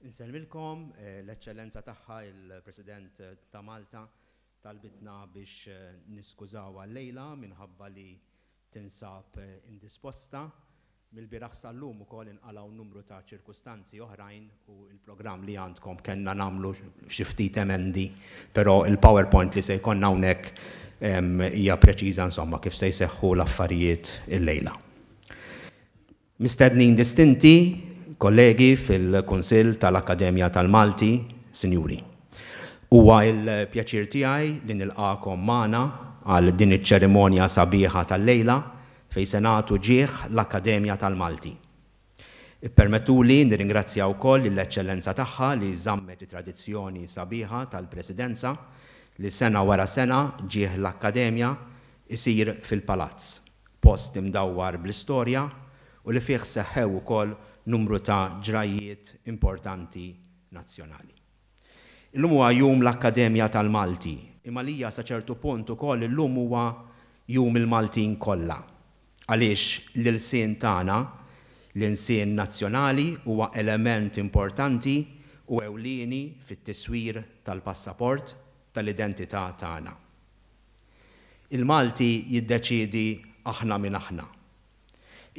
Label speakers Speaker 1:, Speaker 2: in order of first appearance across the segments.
Speaker 1: Insellmilkom, l-Eċċellenza Tagħha l-President ta' Malta talbitna biex niskużawha llejla minħabba li tinsab indisposta. Mill-bieraħ sal-lum ukoll inqalgħu numru ta' ċirkustanzi oħrajn u l-programm li għandkom kellna nagħmlu xi ftit emendi, però l-PowerPoint li se jkollna hawnhekk hija preċiża insomma kif se jseħħu l-affarijiet llejla. Mistednin distinti, kollegi fil-Kunsill tal-Akkademja tal-Malti, Sinjuri. Huwa l-pjaċir tiegħi li nilqagħkom magħna għal din iċ-ċerimonja sabiħa tal-lejla fejn se nagħtu ġieħ l-Akkademja tal-Malti. Ippermettuli nirringrazzja wkoll lill-Eċċellenza Tagħha li żammet it-tradizzjoni sabiħa tal-Presidenza li sena wara sena ġieħ l-Akkademja isir fil-Palazz, post imdawwar bl-istorja u li fih seħħew ukoll numru ta' ġrajjiet importanti nazzjonali. Illum huwa Jum l-Akkademja tal-Malti, imma għalija sa ċertu punt ukoll illum huwa Jum il-Maltin kollha, għaliex l-ilsien tagħna, l-insien nazzjonali huwa element importanti u ewlieni fit-tiswir tal-passaport tal-identità tagħna. Il-Malti jiddeċiedi aħna min aħna.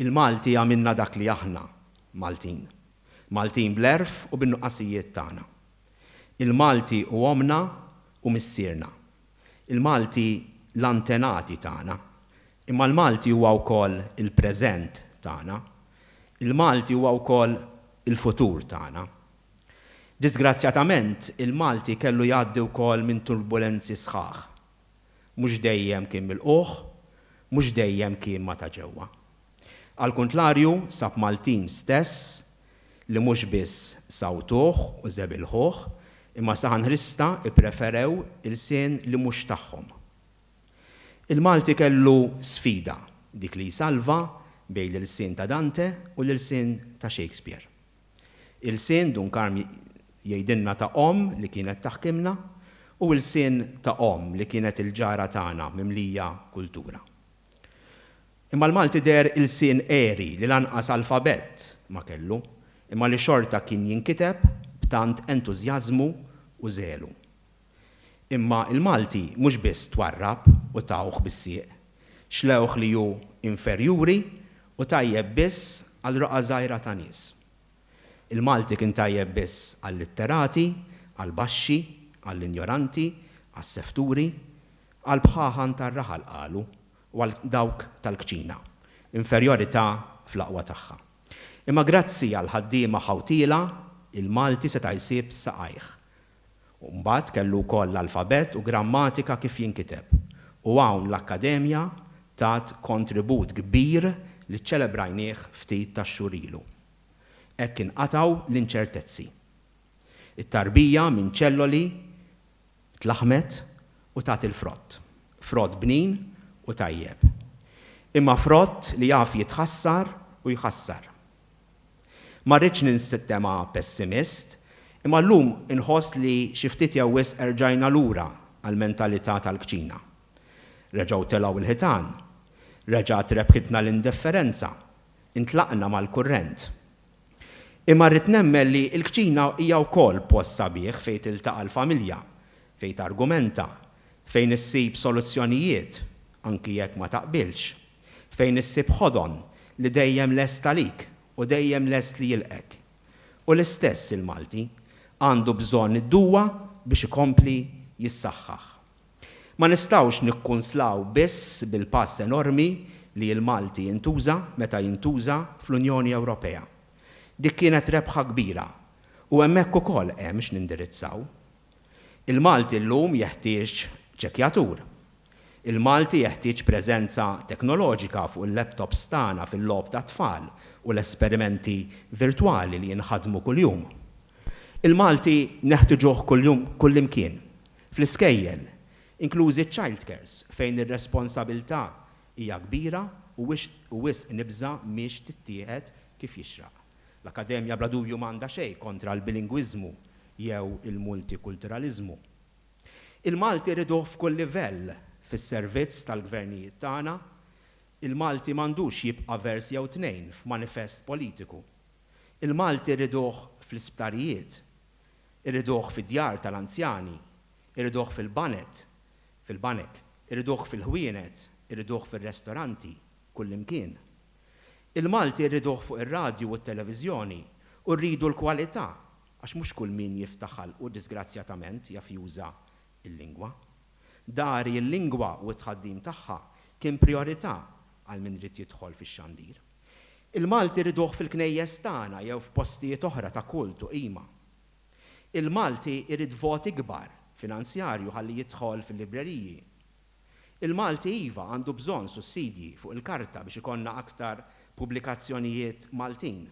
Speaker 1: Il-Malti għamilna dak li aħna, Maltin. Maltin bl-għerf u bin-nuqqasijiet tagħna. Il-Malti hu ommna u missierna. Il-Malti l-antenati tagħna. Imma l-Malti huwa wkoll il-preżent tagħna. Il-Malti huwa wkoll il-futur tagħna. Diżgrazzjatament, il-Malti kellu jgħaddi wkoll minn turbulenzi sħaħ. Mhux dejjem kien milqugħ, mhux dejjem kien ma' ta' ġewwa. Għall-kuntlarju, sab Maltin stess li mhux biss sawtuh u żebilħuh, imma saħanħrista ppreferew ilsien li mhux tagħhom. Il-Malti kellu sfida, dik li jsalva bejn l-ilsien ta' Dante u l-ilsien ta' Shakespeare. Ilsien Dun Karm jgħidilna ta' omm li kienet taħkimna u ilsien ta' omm li kienet il-ġara tagħna mimlija kultura. Imma l-Malti deher ilsien għeri li lanqas alfabett ma kellu, imma li xorta kien jinkiteb b'tant entużjażmu u żelu. Imma l-Malti mhux biss twarrab u tawh bis-sieq, xlewh li hu inferjuri u tajjeb biss għal roqgħa żgħira ta' nies. Il-Malti kien tajjeb biss għal-litterati, għall-baxxi, għall-injoranti, għas-sefturi, għall-bħaħan tar-raħal qalu u għal dawk tal-kċina. Inferjorità fl-aqwa tagħha. Imma grazzi għall-ħaddiema ħawtiela, il-Malti seta' jsib saqajh, U mbagħad kellu wkoll l-alfabett u grammatika kif jinkiteb. U hawn l-Akkademja tat kontribut kbir li ċċelebrajnieh ftit tax-xhur ilu. Hekk inqatgħu l-inċertezzi. It-tarbija minn ċelloli tlaħħmet u tat il-frott. Frott bnin u tajjeb. Imma frott li jaf jitħassar u jħassar. Ma rridx ninsitema' pessimist, imma llum inħoss li xi ftit jew wisq erġajna lura għall-mentalità tal-kċina. Reġgħu telgħu l-ħitan. Reġgħet rebħitna l-indifferenza. Intlaqna mal-kurrent. Imma rrid nemmen li l-kċina hija wkoll post sabiħ fejn tiltaqa' l-familja, fejn targumenta, fejn issib soluzzjonijiet, anki jekk ma taqbilx. fejn issib ħodon li dejjem lest għalik u dejjem lest li jilqgħek. U l-istess il-Malti għandu bżonn id-duwa biex ikompli jissaħħaħ. Ma nistgħux nikkunslaw biss bil-pass enormi li l-Malti intuża meta jintuża fl-Unjoni Ewropea. Dik kienet rebħa kbira u hemmhekk ukoll hemm x'nindirizzaw. Il-Malti llum jeħtieġ ċekkjatur. Il-Malti jeħtieġ preżenza teknoloġika fuq il-laptops tagħna fil-logħob tat-tfal u l-esperimenti virtwali li jinħadmu kuljum. Il-Malti neħtiġuh kuljum kullimkien, fl-iskejjel, inklużi ċ-childcares fejn ir-responsabilità hija kbira u wisq nibża' mhix tittieħed kif jixraq. L-Akkademja bla dubju m'għandha xejn kontra l-bilingwiżmu jew il-multikulturaliżmu. Il-Malti rriduh f'kull livell fis-servizz tal-gvernijiet tagħna. Il-Malti m'għandux jibqa' vers jew tnejn f'manifest politiku. Il-Malti rriduh fl-isptarijiet. Irriduh fid-djar tal-anzjani. Irriduh fil-banet, fil-banek. Irriduh fil-ħwienet. Irriduh fir-restoranti, kullimkien. Il-Malti rriduh fuq ir-radju u t-televiżjoni u rridu l-kwalità Għax mhux kull min jiftaħ ħalqu diżgrazzjatament jaf juża l-lingwa. Dari l-lingwa u t-tħaddim tagħha kien prijorità għal min ried jidħol fix-xandir. Il-Malti rriduh fil-knejjes tagħna jew f'postijiet oħra ta' kult u qima. Il-Malti jrid vot ikbar finanzjarju ħalli jidħol fil-libreriji. Il-Malti iva għandu bżonn sussidji fuq il-karta biex ikollna aktar pubblikazzjonijiet Maltin.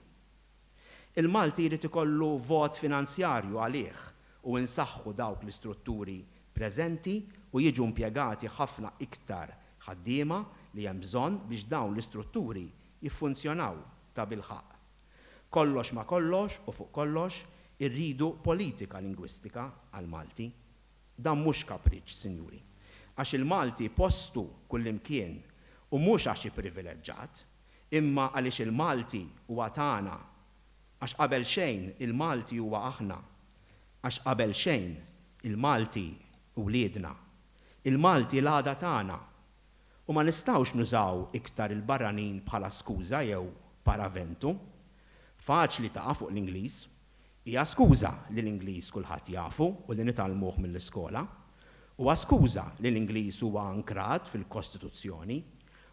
Speaker 1: Il-Malti jrid ikollu vot finanzjarju għalih u insaħħu dawk l-istrutturi preżenti u jiġu impjegati ħafna iktar ħaddiema li hemm bżonn biex dawn l-istrutturi jiffunzjonaw tabilħaqq. Kollox ma' kollox u fuq kollox irridu politika lingwistika għall-Malti. Dan mhux kapriċċ, Sinjuri. Għax il-Malti postu kullimkien u mhux għax hi privileġġat. Imma għaliex il-Malti huwa tagħna? Għax qabel xejn il-Malti huwa aħna. Għax qabel xejn il-Malti hu wliedna. Il-Malti l-għada tagħna. U ma nistgħux nużaw iktar il-barranin bħala skuża jew paraventu. Faċli taqa' fuq l-Ingliż. Hija skuża li l-Ingliż kulħadd jafu u li nitgħallmuh mill-iskola. Huwa skuża li l-Ingliż huwa ankrat fil-Kostituzzjoni.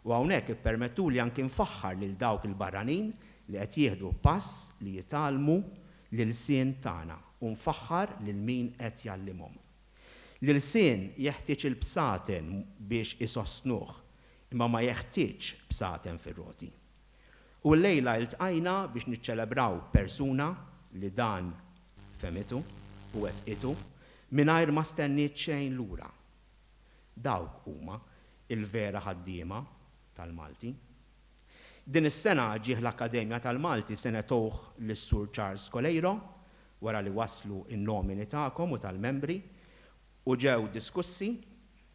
Speaker 1: U hawnhekk ippermettuli anki nfaħħar lil dawk il-barranin li qed jieħdu pass li jitgħallmu l-ilsien tagħna u nfaħħar lil min qed jgħallimhom. L-ilsien jeħtieġ il-bsaten biex isostnuh imma ma jeħtieġx bsaten fir-roti. U llejla iltqajna biex niċċelebraw persuna li dan fehmitu u wettqitu mingħajr ma stenniet xejn lura. Dawk huma l-vera ħaddiema tal-Malti. Din is-sena ġieh l-Akkademja tal-Malti se negħtuh lis-Sur Charles Coleiro wara li waslu n-nomini tagħkom u tal-membri u ġew diskussi.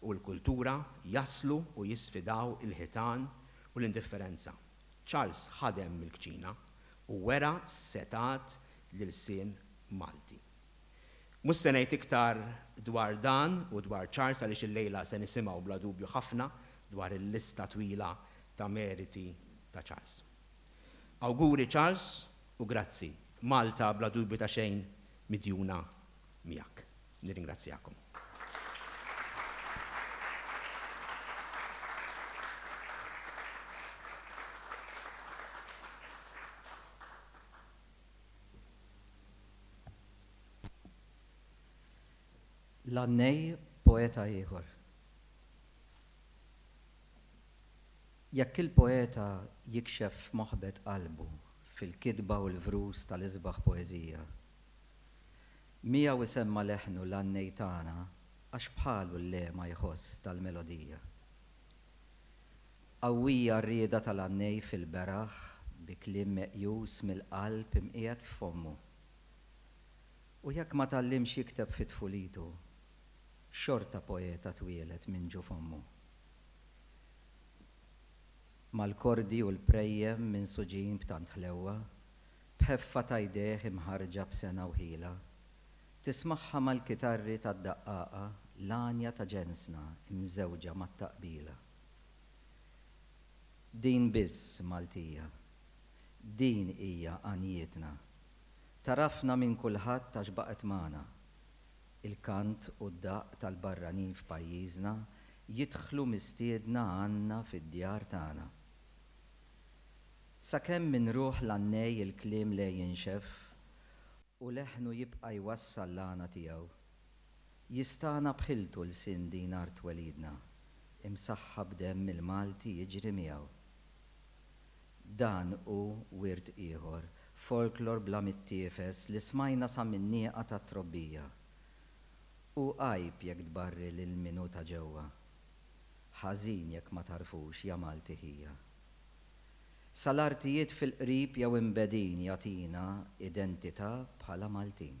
Speaker 1: u l-kultura jaslu u jisfidaw il-ħitan u l-indifferenza. Charles ħadem mill-kċina u wera setgħat l-ilsien Malti. Mhux se ngħid iktar dwar dan u dwar Charles għaliex illejla se nisimgħu bla dubju ħafna dwar il-lista twila ta' meriti ta' Charles. Awguri Charles u grazzi. Malta bla dubju ta' xejn midjuna miegħek. Nirringrazzjakom.
Speaker 2: L-għannej poeta ieħor. Jekk il-poeta jikxef moħbet qalbu fil-kitba u l-vrus tal-isbaħ poeżija, Miegħu isemma' leħnu l-għannej tagħna għax bħalu l-lehma jħoss tal-melodija. Qawwija r-rieda tal-għannej fil-beraħ bi kliem meqjus mill-qalb imqiegħed f'fommu. U jekk ma tgħallimx jikteb fi tfulitu, xorta poeta twieled minn ġo fommu. Mal-kordi u l-prejjem minsuġin b'tant ħlewwa, B'ħeffa ta' jdejh imħarrġa b'sengħa u ħila, tismagħha mal-kitarri tad-daqqaqa l-għanja ta' ġensna mżewġa mat-taqbila. Din biss Maltija. Din hija għanjietna. Tagħrafna minn kulħadd għax baqgħet magħna. Il-kant u d-daqq tal-barranin f'pajjiżna jidħlu mistiedna għandna fid-djar tagħna. Sakemm minn ruħ l-għannej il-kliem le jinxef u leħnu jibqa' jwassal l-għana tiegħu. Jistagħna b'ħiltu lsien din art twelidna, imsaħħa b'demm il-Malti jiġri miegħu. Dan hu wirt ieħor, folklor bla mittiefes li smajna sa min-nieqa tat-trobbija. Hu għajb jekk tbarri lil min hu ta' ġewwa. Ħażin jekk ma tagħrfux ja Malti ħija. sal-artijiet fil-qrib jew imbegħdin jagħtina identità bħala Maltin.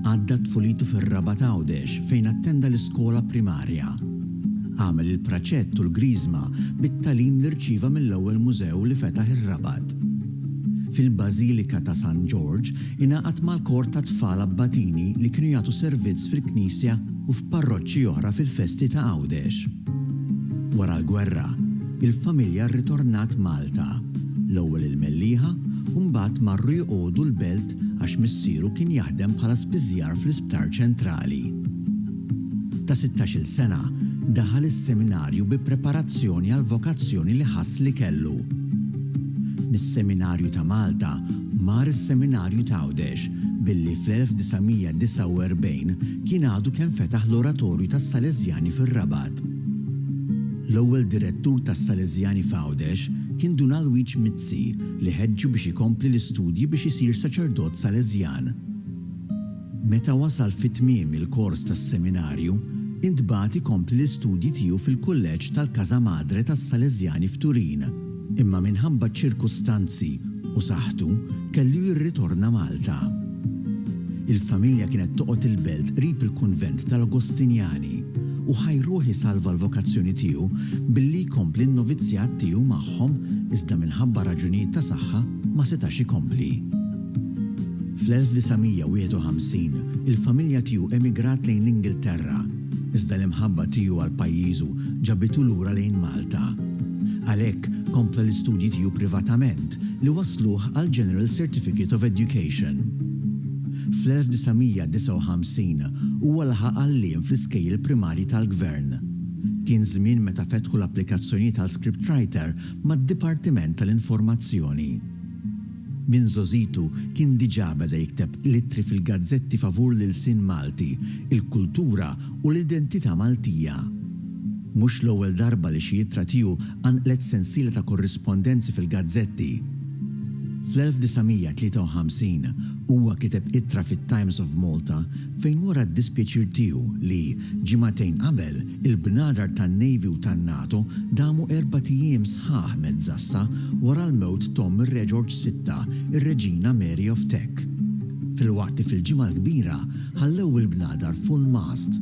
Speaker 3: Għadda tfulitu fir-Rabat Għawdex fejn attenda l-iskola primarja. Għamel il-praċett u l-griżma bit-tagħlim li rċieva mill-ewwel mużew li fetaħ ir-Rabat. Fil-Bażilika ta' San Ġorġ ingħaqad mal-kor tat-tfal Abbatini li kienu jagħtu servizz fil-knisja u f'parroċċi oħra fil-festi ta' Għawdex. Wara l-gwerra, il-familja rritornat Malta, l-ewwel il-Mellieħa u mbagħad marru jqogħdu l-belt għax missieru kien jaħdem bħala spiżjar fl-Isptar Ċentrali. Ta' sittax-il sena, daħal is-seminarju bi preparazzjoni għall-vokazzjoni li ħass li kellu. Mis-Seminarju ta' Malta, mar is-Seminarju t'Għawdex, billi fl-1949 kien għadu kemm fetaħ l-Oratorju tas-Sależjani fir-Rabat. L-ewwel direttur tas-Sależjani f'Għawdex kien Dun Alwiġ Mizzi. Grazzi li ħeġġu biex ikompli l-istudji biex isir saċerdot Salesjan. Meta wasal fi tmiem il-kors tas-seminarju, intbagħat ikompli l-istudji tiegħu fil-Kulleġġ tal-Casa Madre tas-Salesjani f'Turin, imma minħabba ċ-ċirkustanzi u saħħtu kellu jirritorna Malta. Il-familja kienet toqgħod il-belt qrib il-kunvent tal-Agostinjani u Ħaj Ruħ isalva l-vokazzjoni tiegħu billi jkompli n-novizzjat tiegħu magħhom iżda minħabba raġunijiet ta' saħħa ma setax ikompli. Fl-1951 il-familja tiegħu emigrat lejn l-Ingilterra. Iżda l-imħabba tiegħu għal pajjiżu ġabitu lura lejn Malta. Għalhekk, kompla l-istudji tiegħu privatament li wassluh għall-General Certificate of Education. Fl-1959 huwa laħaq għalliem fl-iskejjel primarji tal-Gvern. Kien żmien meta fetħu l-applikazzjonijiet għal scriptwriter mad-Dipartiment tal-Informazzjoni. Minn żgħożitu kien diġà beda jikteb l-ittri fil-gazzetti favur l-ilsien Malti, il-kultura u l-identità Maltija. Mhux l-ewwel darba li xi ittra tiegħu qanqlet sensiela ta' korrispondenzi fil-gazzetti. Fl-1953 huwa kiteb ittra fit-Times of Malta fejn wera d-dispjaċir tiegħu li, ġimagħtejn qabel, Il-bnadar tan-Navy u tan-NATO damu erbat ijiem sħaħ mezzasta wara l-mewt t'omm ir-Reġorġ Sitta, ir-Reġina Mary of Teck. Filwaqt li fil-Ġimgħa l-Kbira ħallew il-bnadar full-mast.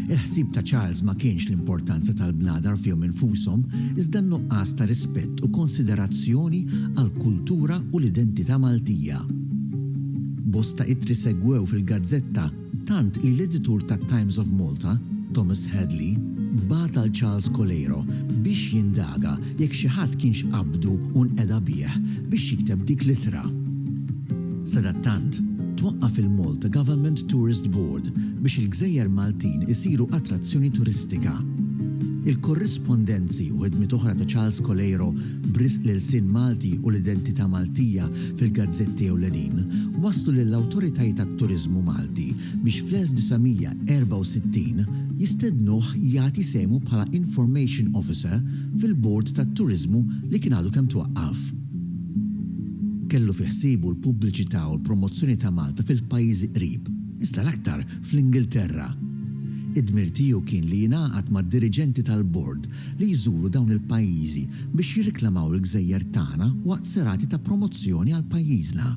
Speaker 3: Il-ħsieb ta' Charles ma kienx l-importanza tal-bnadar fihom infushom iżda n-nuqqas ta' rispett u konsiderazzjoni għall-kultura u l-identità Maltija. Bosta ittri segwew fil-gazzetta. Tant li l-editur tat-Times of Malta, Thomas Hadley, bagħat għal Charles Coleiro biex jindaga jekk xi ħadd kienx qabbdu u nqeda bih biex jikteb dik l-ittra. Sadattant, twaqqaf il-Malta Government Tourist Board biex il-gżejjer Maltin isiru attrazzjoni turistika. Il-korrispondenzi u ħidmiet oħra ta' Charles Coleiro b'risq l-ilsien Malti u l-identità Maltija fil-gazzetti ewlenin, wasslu lill-awtoritajiet għat-turiżmu Malti biex fl-1964 jistednuh jagħti sehmu bħala Information Officer fil-Bord tat-Turiżmu li kien għadu kemm twaqqaf. Kellu fi ħsiebu l-pubbliċità u l-promozzjoni ta' Malta fil-pajjiżi qrib, iżda l-aktar fl-Ingilterra. Id-dmir tiegħu kien li jingħaqad mad-diriġenti tal-Bord li jżuru dawn il-pajjiżi biex jirriklamaw il-gżejjer tagħna waqt serati ta' promozzjoni għal pajjiżna.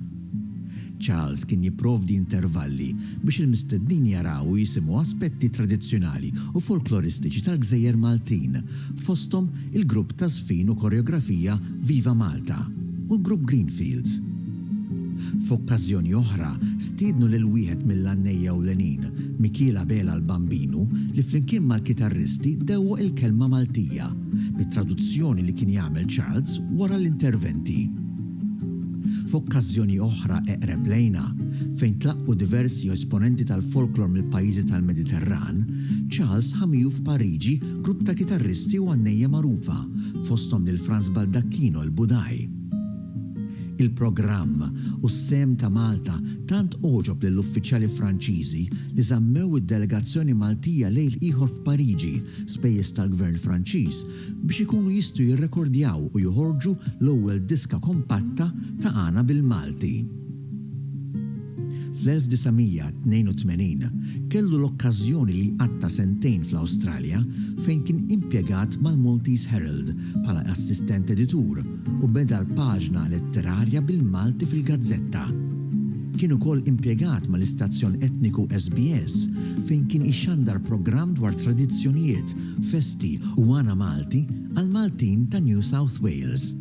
Speaker 3: Charles kien jipprovdi intervalli biex il-mistednin jaraw u jisimgħu aspetti tradizzjonali u folkloristiċi tal-gżejjer Maltin, fosthom il-grupp taż-żfin u koreografija Viva Malta u l-grupp Greenfields. F'okkażjoni oħra, stiednu lil wieħed mill-għannejja ewlenin, Mikiel Abela l-Bambinu, li flimkien mal-kitarristi dewwaq il-kelma Maltija, bit-traduzzjoni li kien jagħmel Charles wara l-interventi. F'okkażjoni oħra eqreb lejna, fejn tlaqqu diversi esponenti tal-folklor mill-pajjiżi tal-Mediterran, Charles ħa miegħu f'Pariġi grupp ta' kitarristi u għannejja magħrufa, fosthom lil Franz Baldacchino l-Budaj. Il-programm u s-sehem ta' Malta tant għoġob lill-uffiċjali Franċiżi li żammew id-delegazzjoni Maltija lejl ieħor f'Pariġi, spejjeż tal-Gvern Franċiż, biex ikunu jistgħu jirrekordjaw u joħorġu l-ewwel diska kompatta ta' għana bil-Malti. Fl-1982 kellu l-okkażjoni li jqatta' sentejn fl-Awstralja fejn kien impjegat mal-Maltese Herald bħala assistent editur u beda l-paġna letterarja bil-Malti fil-gazzetta. Kien ukoll impjegat mal-istazzjon etniku SBS fejn kien ixandar programm dwar tradizzjonijiet, festi u għana Malti għall-Maltin ta' New South Wales.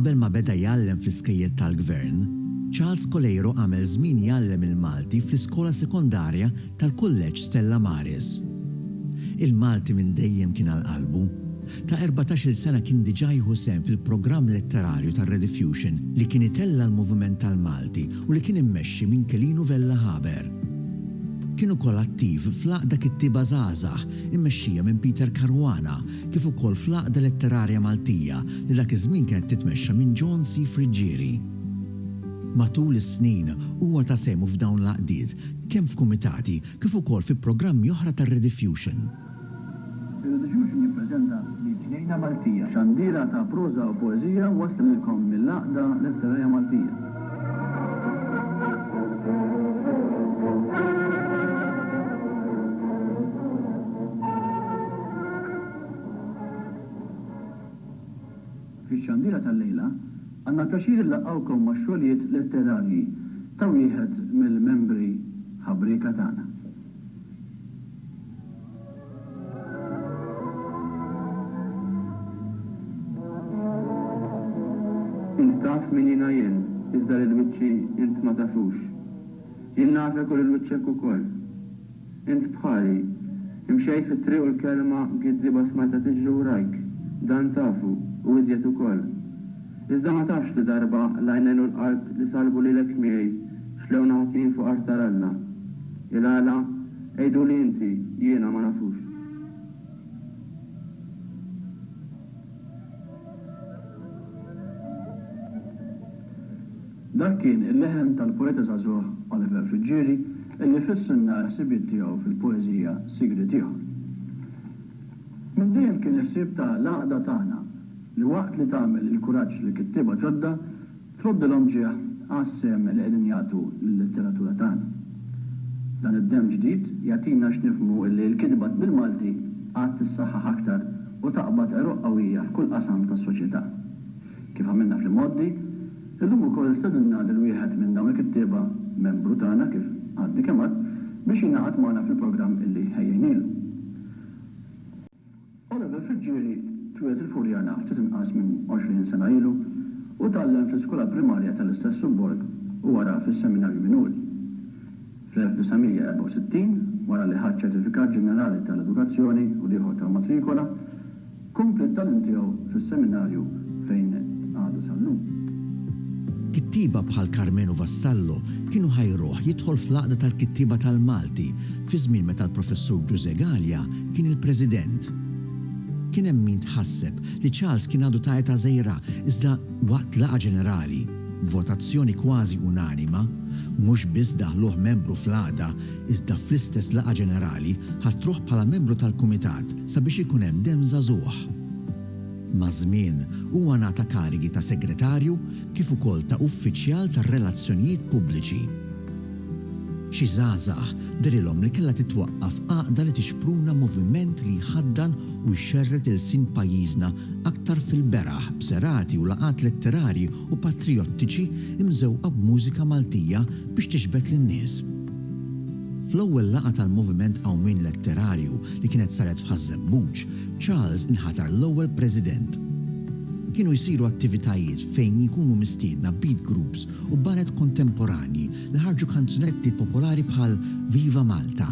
Speaker 3: Qabel ma beda jgħallem fl-iskejjel tal-Gvern, Charles Coleiro għamel żmien jgħallem il-Malti fl-iskola sekondarja tal-Kulleġġ Stella Maris. Il-Malti minn dejjem kien għal qalbu. ta' erbatax-il sena kien diġà jieħu sehem fil-programm letterarju tar-Rediffusion li kien itella' l-moviment tal-Malti u li kien immexxi minn Kelinu Vella Haber. Kien ukoll attiv fl-Għaqda Kittieba Żgħażagħ immexxija minn Peter Caruana kif ukoll fl-Għaqda Letterarja Maltija li dak iż-żmien kienet titmexxa minn John C. Friggieri. Matul is-snin huwa ta sehmu f'dawn l-għaqdiet kemm f'kumitati kif ukoll fi programmi oħra tar-Rediffusion.
Speaker 4: Periodu Xulxin jippreżenta L-Ġnejna Maltija, xandiera ta' proża u poeżija wasla lilkom mill-Għaqda Letterarja Maltija. Fix-xandiera tal-lejla, għandna l-pjaċir inlaqqgħukom max-xogħlijiet letterarji ta' wieħed mill-membri ħabrieka tagħna. Int taf min jiena jien, iżda lil wiċċi int ma tafux. Jien nafek u lil wiċċek ukoll. Int bħali. Imxejt fit-triq u l-kelma giddieba smajtha tiġri wrajk. Dan tafu, u iżjed ukoll. Iżda ma tafx li darba l-għajnejn u l-qalb li salbu lilek miegħi xlew nagħtihim fuq artar Alla. Il-għala? Għiduli inti, jiena ma nafux. Dak kien il-leħen tal-poeta żagħżugħ Oliver Friggieri illi fissilna l-ħsibiet tiegħu fil-poeżija Sigriet ieħor. Minn dejjem kien il-ħsieb ta' l-għaqda tagħna li waqt li tagħmel il-kuraġġ li kittieba ġodda, Tħobbilhom ġieħ għas-sehem li qegħdin jagħtu lil-letteratura tagħna. Dan id-demm ġdid jagħtina x'nifhmu illi l-kitba bil-Malti għad tissaħħaħ aktar u taqbad għeruq qawwija f'kull qasam tas-soċjetà. Kif għamilna fl-imgħoddi, illum ukoll stedinna lil wieħed minn dawn il-kittieba, membru tagħna kif għadni kemm għedt, biex jingħaqad magħna fil-programm illi ħejjejnielu. Ora minn Friġġieri twieled il-Furjana ftit inqas minn 20 sena ilu u tgħallem fl-iskola primarja tal-istess subborg u wara fis-Seminarju Minuri. Fl-1964, wara li ħa ċ-Ċertifikat Ġenerali tal-Edukazzjoni u l-ieħor tal-Matrikola, kompla t-tagħlim tiegħu fis-Seminarju fejn għadu sal-lum.
Speaker 3: Kittieba bħal Karmenu Vassallo kienu ħajruh jidħol fl-Għaqda tal-Kittieba tal-Malti fiż-żmien meta l-Professur Ġużè Galea kien il-President. Kien hemm min tħasseb li Charles kien għadu ta' età żgħira iżda waqt laqgħa ġenerali, b'votazzjoni kważi unanima, mhux biss daħluh membru fl-Għaqda iżda fl-istess laqgħa ġenerali ħatruh bħala membru tal-Kumitat sabiex ikun hemm demm żagħżugħ. Maż-żmien, huwa ngħata karigi ta' Segretarju kif ukoll ta' Uffiċjal tar-Relazzjonijiet Pubbliċi. Xi żgħażagħ derilhom li kellha titwaqqaf għaqda li tixpruna moviment li jħaddan u jxerred ilsien pajjiżna aktar fil-beraħ b'serati u laqgħat letterarji u patrijottiċi mżewqa b'mużika Maltija biex tixbet lin-nies. Fl-ewwel laqgħa tal-Moviment Qawmien Letterarju li kienet saret f'Ħaż-Żebbuġ, Charles inħatar l-ewwel President. Kienu jsiru attivitajiet fejn jkunu mistiedna beat groups u baned kontemporanji li ħarġu kanzunetti popolari bħal Viva Malta.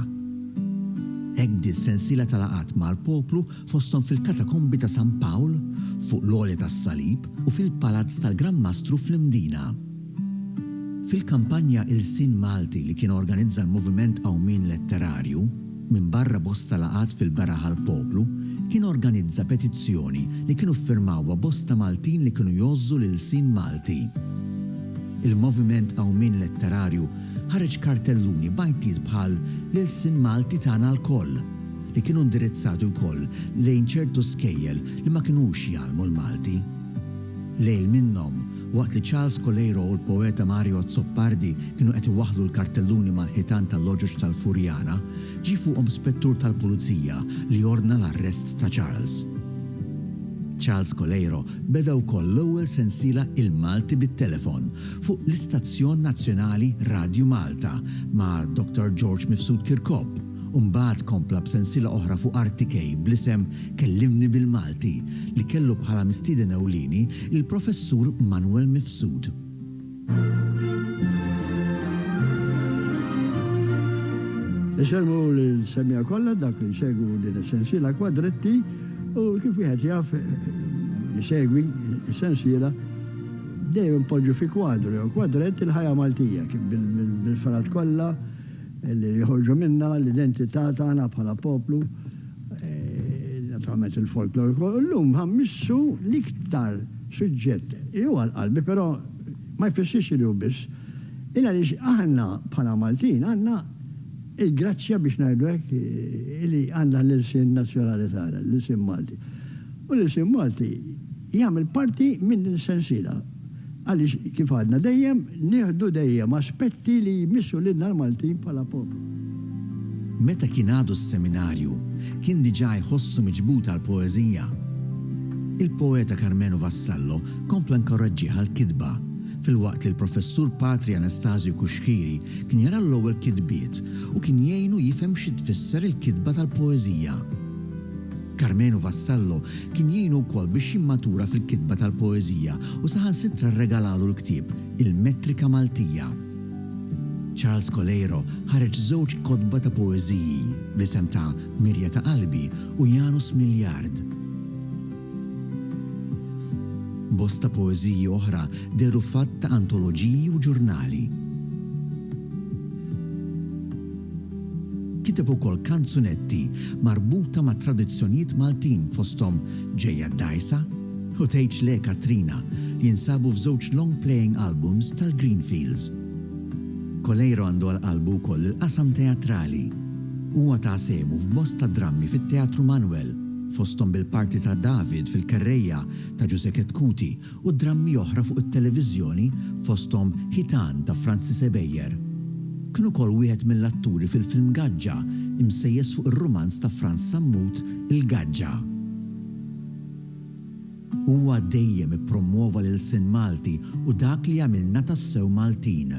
Speaker 3: Hekk bdiet sensiela ta' laqgħat mal-poplu fosthom fil-Katakombi ta' San Pawl, fuq l-Għolja tas-Salib u fil-Palazz tal-Gran Mastru fl-Imdina. Fil-kampanja Ilsien Malti li kien organizza l-Moviment Qawmien Letterarju, Minbarra bosta laqgħat fil-beraħ għall-poplu, kien organizza petizzjoni li kienu ffirmawha bosta Maltin li kienu jgħożżu l-ilsien Malti. Il-Moviment Qawmien Letterarju ħareġ kartelluni b'għajtiet bħal L-ilsien Malti tagħna lkoll! li kienu indirizzati wkoll lejn ċertu skejjel li ma kinux jgħallmu l-Malti. Lejl minnhom, waqt li Charles Coleiro u l-poeta Mario Azzopardi kienu qed iwaħħlu l-kartelluni mal-ħitan tal-loġoġ tal-Furjana, ġie fuqhom spettur tal-pulizija li ordna l-arrest ta' Charles. Charles Coleiro beda wkoll l-ewwel sensiela Il-Malti bit-Telefon fuq l-istazzjon nazzjonali Radju Malta ma' Dr. George Mifsud Kirkop, u mbagħad kompla b'sensiela oħra fuq artikej bl-isem Kellimni bil-Malti li kellu bħala mistieden ewlieni l-Professur Manwel Mifsud.
Speaker 5: Isemmu l-insemmija kollha dak li jsegwu din is-sensiela kwadretti u kif wieħed jaf jsegwi s-sensiela dejjem poġġu fi kwadru jew kwadrett il-ħajja Maltija kif bil-ferat kollha li joħorġu minnha, l-identità tagħna bħala poplu, naturalment il-folklor ukoll, u llum ħa mmissu l-iktar suġġett li hu għal qalbi però ma jfissirx li hu biss, il għaliex aħna bħala Maltin għandna l-grazzja biex ngħidu hekk li għandna l-ilsien nazzjonali tagħna, l-ilsien Malti. U l-ilsien Malti jagħmel parti minn din is-sensiela. Għaliex, kif għadna dejjem, nieħdu dejjem aspetti li jmissu lilna l-Maltin bħala poplu.
Speaker 3: Meta kien għadu s-seminarju, kien diġà jħossu miġbud għall-poeżija. Il-poeta Karmenu Vassallo kompla nkoraġġih għall-kitba, filwaqt li l-Professur Patri Anastasio Cuschieri kien jara l-ewwel kitbiet u kien jgħinu jifhem xi tfisser il-kitba tal-poeżija. Karmenu Vassallo kien jgħinu wkoll biex jimmatura fil-kitba tal-poeżija u saħansitra rregalalu l-ktieb Il-Metrika Maltija. Charles Coleiro ħareġ żewġ kotba ta' poeżiji bl-isem ta' Mirja ta' Qalbi u Janus Miljard. Bosta poeżiji oħra dehru f'għadd ta' antoloġiji u ġurnali. Kiteb ukoll kanzunetti marbuta ma' tradizzjonjiet Maltin fosthom Ġejja d-Dgħajsa u Tgħidx Le Katrina li jinsabu f'żewġ long playing albums tal-Greenfields. Coleiro għandu għal qalbu wkoll il-qasam teatrali. Huwa ta sehmu f'bosta drammi fit-Teatru Manwel, fosthom bil-parti ta' David fil-Kerrejja ta' Ġużè Ketkuti u drammi oħra fuq it-televiżjoni fosthom Ħitan ta' Francis Ebejer. Kien ukoll wieħed mill-atturi fil-film Gaġġa imsejjes fuq ir-rumanz ta' Frans Sammut Il-Gaġġa. Huwa dejjem ippromwova l-ilsien Malti u dak li jagħmilna tassew Maltin.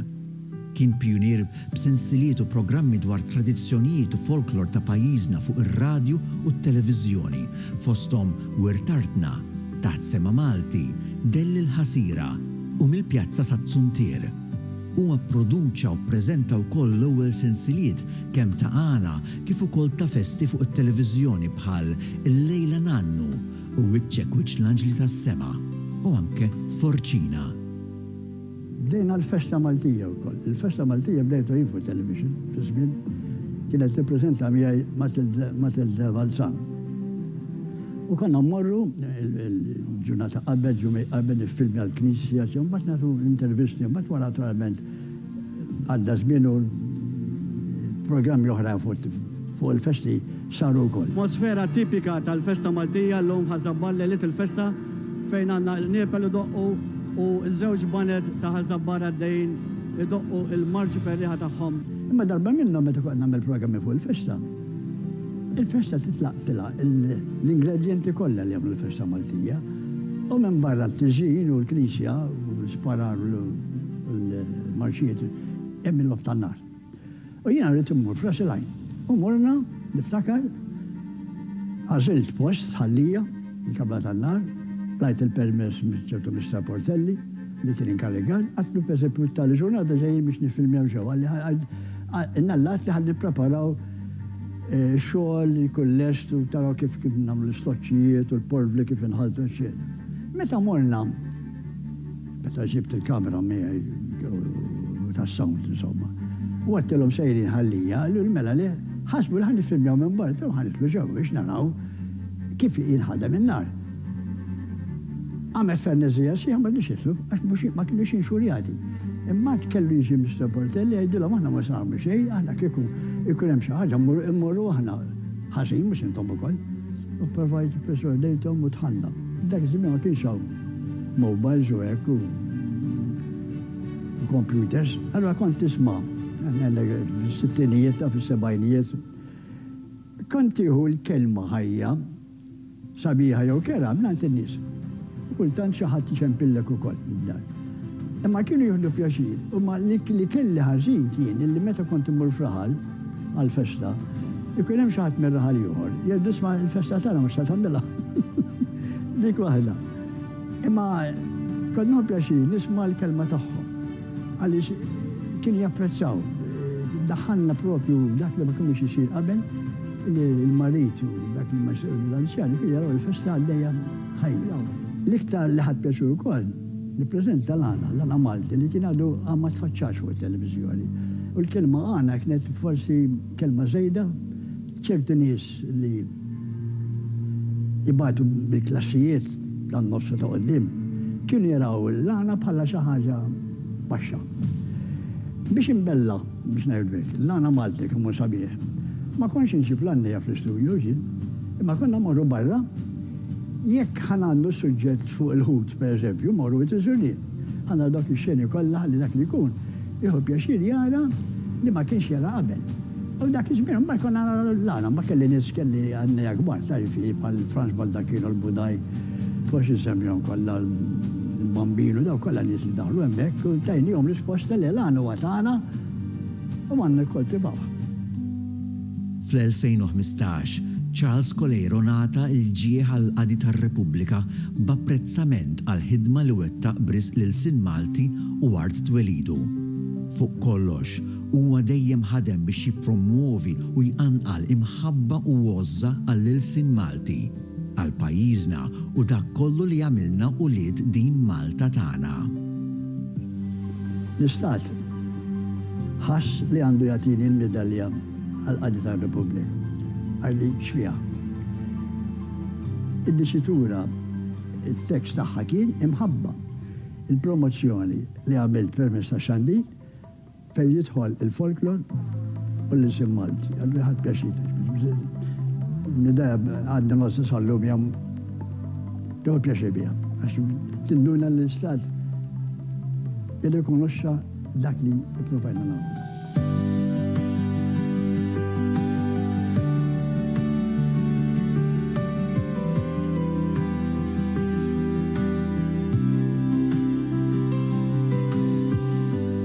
Speaker 3: Kien pijunier b'sensiliet u programmi dwar tradizzjonijiet u folklor ta' pajjiżna fuq ir-radju u t-televiżjoni, fosthom Wirt Artna, Taħt Sema Malti, Dell il-Ħasira, u Mill-Pjazza sat-Tsuntier. Huwa pproduċa u ppreżenta wkoll l-ewwel sensiliet kemm ta' għana kif ukoll ta' festi fuq it-televiżjoni bħal Illejla Nannu u Wiċċek Wiċċ l-Anġli tas-Sema u anke Forċina.
Speaker 5: Bdejna l-festa Maltija wkoll. Il-festa Maltija bdejtha jien fuq it-television fi żmien kienet tippreżenta miegħi Matilde Balzan. U konna mmorru il-ġurnata qabel, ġimgħa qabel niffilmja l-knisja, u mbagħad nagħtu intervisti, u mbagħad wara naturalment għadda żmien u programmi oħrajn fuq il-festi saru wkoll. Atmosfera tipika
Speaker 6: tal-festa Maltija llum ħa żabbar lejliet il-festa. fejn għandna l-qniepel idoqqu u ż-żewġ baned ta' Ħaż-Żabbar għaddejjin idoqqu l-marċi ferrieħa tagħhom. Imma darba minnhom
Speaker 5: meta kont nagħmel programmi fuq il-festa, il-festa titlaq tilha l-ingredjenti kollha li jagħmlu l-festa Maltija u minbarra t-tiżjin u l-knisja u l-isparar u l-marċijiet hemm il-logħob tan-nar. U jiena rrid immur f'ras il-għajn. U morna, niftakar, għażilt post, Sħallija, il-Kamra tan-Nar, tajt il-permess minn ċertu Mister Portelli li kien inkarrigat, għedtlu pereżempju tali ġurnata ġejjin biex niffilmjaw ġewwa, qalli innallat li ħa nippreparaw xogħol li jkun lest u taraw kif nagħmlu l-istoċċijiet u l-porvli kif inħaltu eċċetera. Meta morna, Meta ġibt il-kamera miegħi u tas-sound insomma. U għedtilhom sejrin Ħal-Lija, qaluli mela le, ħasbu li ħa niffilmjaw minn barra u ħa nidħlu ġewwa biex naraw kif jinħadem in-nar. Għamel ferneżija sħiħa ma rridux jidħlu għax mhux ma kinux inxurjati. Imbagħad kellu jiġi Mister Portelli jgħidilhom aħna ma se nagħmlu xejn, aħna kieku jkun hemm xi ħaġa mmorru aħna ħażin mhux intom ukoll. U provajt ipperswadejthom u dħalna. Dak iż-żmien ma kienx hawn. mowbajls u hekk u kompjuters, allura kont tisma' fis-sittinijiet u fis-sebgħinijiet. Kont tieħu l-kelma ħajja, sabiħa jew kerha mingħand in-nies. Kultant xi ħadd iċempillek ukoll mid-dar. Imma kienu jieħdu pjaċir, imma li kelli ħażin kien li meta kont immur f'raħal, għall-festa, ikun hemm xi ħadd mir-raħal ieħor li jgħidlu isma' l-festa tagħna mhux se tagħmilha. Dik waħda. Imma kont nieħu pjaċir nisma' l-kelma tagħhom għaliex kienu japprezzaw. Daħħalna propju dak li ma kienx isir qabel li l-marid u dak li ma jsir l-anzjani kienu jaraw il-festa għaddejja ħajja. L-iktar li ħadt pjaċir ukoll, Nippreżenta l-għana, l-għana Malti li kien għadu għad ma tfaċċax fuq it-televiżjoni. U l-kelma għana kienet forsi kelma żejda, ċerti nies li jbatu bil-klassijiet tan-nofs u ta' quddiem kienu jaraw l-għana bħala xi ħaġa baxxa. Biex inbella, biex ngħidlek hekk, l-għana Malti kemm hu sabiħ, ma kontx inġib l-għannejja fl-istudju, imma konna mmorru barra, Jekk ħa ngħandnu suġġett fuq il-ħut, per eżempju, Moru it is Rdi. Ħa naraw dawk ix-xeni kollha ħalli dak li jkun jieħu pjaċir jara li ma kienx jara qabel. U dak iż-żmien mbagħad konna naraw l-għana, ma kelli nies kelli għannejja kbar, tagħrif hi bħal Franz Baldacchino l-Budaj, forsi nsemmihom kollha l-Bambino, dawk kollha nies li daħlu hemmhekk u tajnihom risposta le l-għan huwa tagħna u għandna nikkoltivawh. Fl-2015,
Speaker 3: Charles Coleiro ngħata l-ġieħ għall-Qadi tar-Repubblika b'apprezzament għall-ħidma li wettaq b'risq lil Sin Malti u art twelidu. Fuq kollox, huwa dejjem ħadem biex jippromwovi u jqanqal imħabba u għożża għall-ilsien Malti. Għal pajjiżna u dak kollu li għamilna ulied din Malta tagħna.
Speaker 5: L-Istat ħass li għandu jagħtini l-midalja għall-qadi tar-Repubblika għax din x'fiha. Id-disitura, it-tekst tagħha kien imħabba. Il-promozzjoni li għamilt permezz tax-xandir Fejn jidħol il-folklor u l-ilsien Malti. Għandi ħadt pjaċir. L-idea għadna ma sal-lum jam teħu pjaċir bija. Għax tinduna l-istat irrikonoxxa dak li provajna nagħmlu.